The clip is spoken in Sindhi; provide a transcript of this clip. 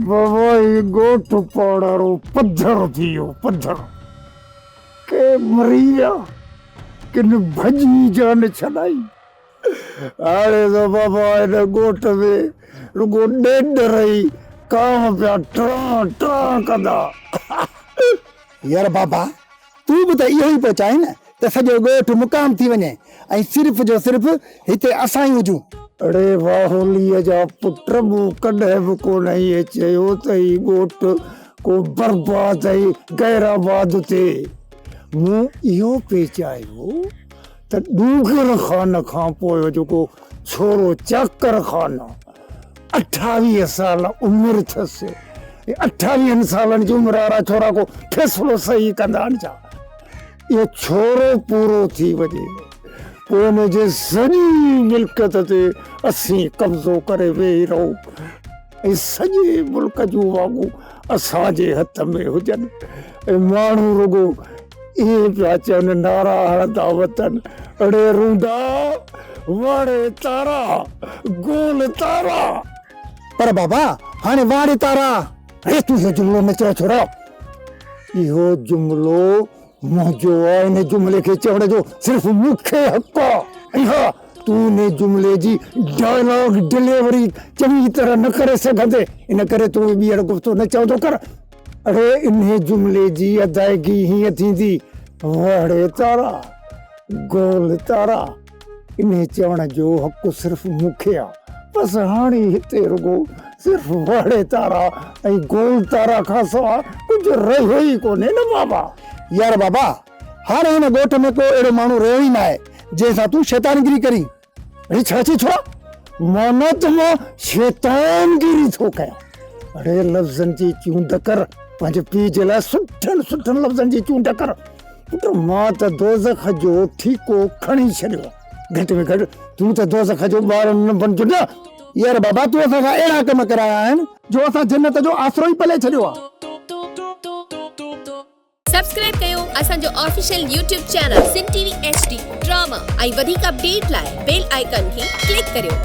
بابا هي ڳوٺ پاڙارو پڌر ٿي ويو پڌر ڪي مري ويا ڪن ڀڄي جان ڇڏائي هاڻي ته بابا هن ڳوٺ ۾ رڳو ڏيڏ رهي ڪانء پيا ٽران ٽران ڪندا يار بابا تون به ته اهو ئي پيو چاهين نه ته سڄو ڳوٺ مقام ٿي وڃي ۽ صرف جو صرف هتي اسان ئي هجون. اڙي واهوليء جا پٽ، مون ڪڏهن به ڪونه ائين چيو ته هي ڳوٺ ڪو برباد ۽ غير آباد ٿئي. مون اهو پئي چاهيو ته ڏونگر خان کان پوء جيڪو ڇورو چاڪر خان اٺاويهه سال عمر ٿس ۽ اٺاويهن سالن جي عمر وارا ڇورا ڪو فيصلو صحيح ڪندا آهن ڇا؟ اهو ڇورو پورو ٿي وڃي پوء ان جي سڄي ملڪيت تي اسين قبضو ڪري ويهي رهون ۽ سڄي ملڪ جون واڳون اسان جي هٿ ۾ هجن ۽ ماڻهو رڳو ايئن پيا چون نعرا هڻندا وطن ڙي روندا واڙي تارا گول تارا. پر بابا هاڻي واڙي تارا ڙي تون اهو جملو نه چئو ڇورا. اهو جملو منهنجو آ ان جملي کي چوڻ جو صرف مون کي حق آ ۽ ها تون ان جملي جي ڊائلاگ ڊليوري چڱي طرح نه ڪري سگهندين ان ڪري تون ٻيهر گفتو نه چوندو ڪر. اڙي انهي جملي جي ادائگي هيئن ٿيندي، وهڙي تارا، گول تارا. انهي چوڻ جو حق صرف مون کي آ. بس هاڻي هتي رڳو صرف وهڙي تارا ۽ گول تارا کان سوا ڪجهه رهيو ئي ڪونهي نه بابا! يار بابا! هاڻي هن ڳوٺ ۾ ڪو اهڙو ماڻهو رهيو ئي ناهي، جنهن سان تون شيطانگري ڪرين. اڙي ڇا چي ڇوڙا مانا ته مان شيطان گيري ٿو ڪيان اڙي لفظن جي چونڊ ڪر پنهنجي پي جي لاء سٺن سٺن لفظن جي چونڊ ڪر پٽ مان ته دوزخ جو ٺيڪو کڻي ڇڏيو گهٽ ۾ گهٽ تون ته دوزخ جو ٻار نه بنجو نه يار بابا تون اسان سان اهڙا ڪم ڪرايا آهن جو اسان جنت جو آسرو ئي پلي ڇڏيو آهي سبسڪرائب ڪيو اسان جو official YouTube channel Sindh T V H D drama ۽ وڌيڪ اپڊيٽ لاء بيل آئيڪان کي ڪلڪ ڪريو.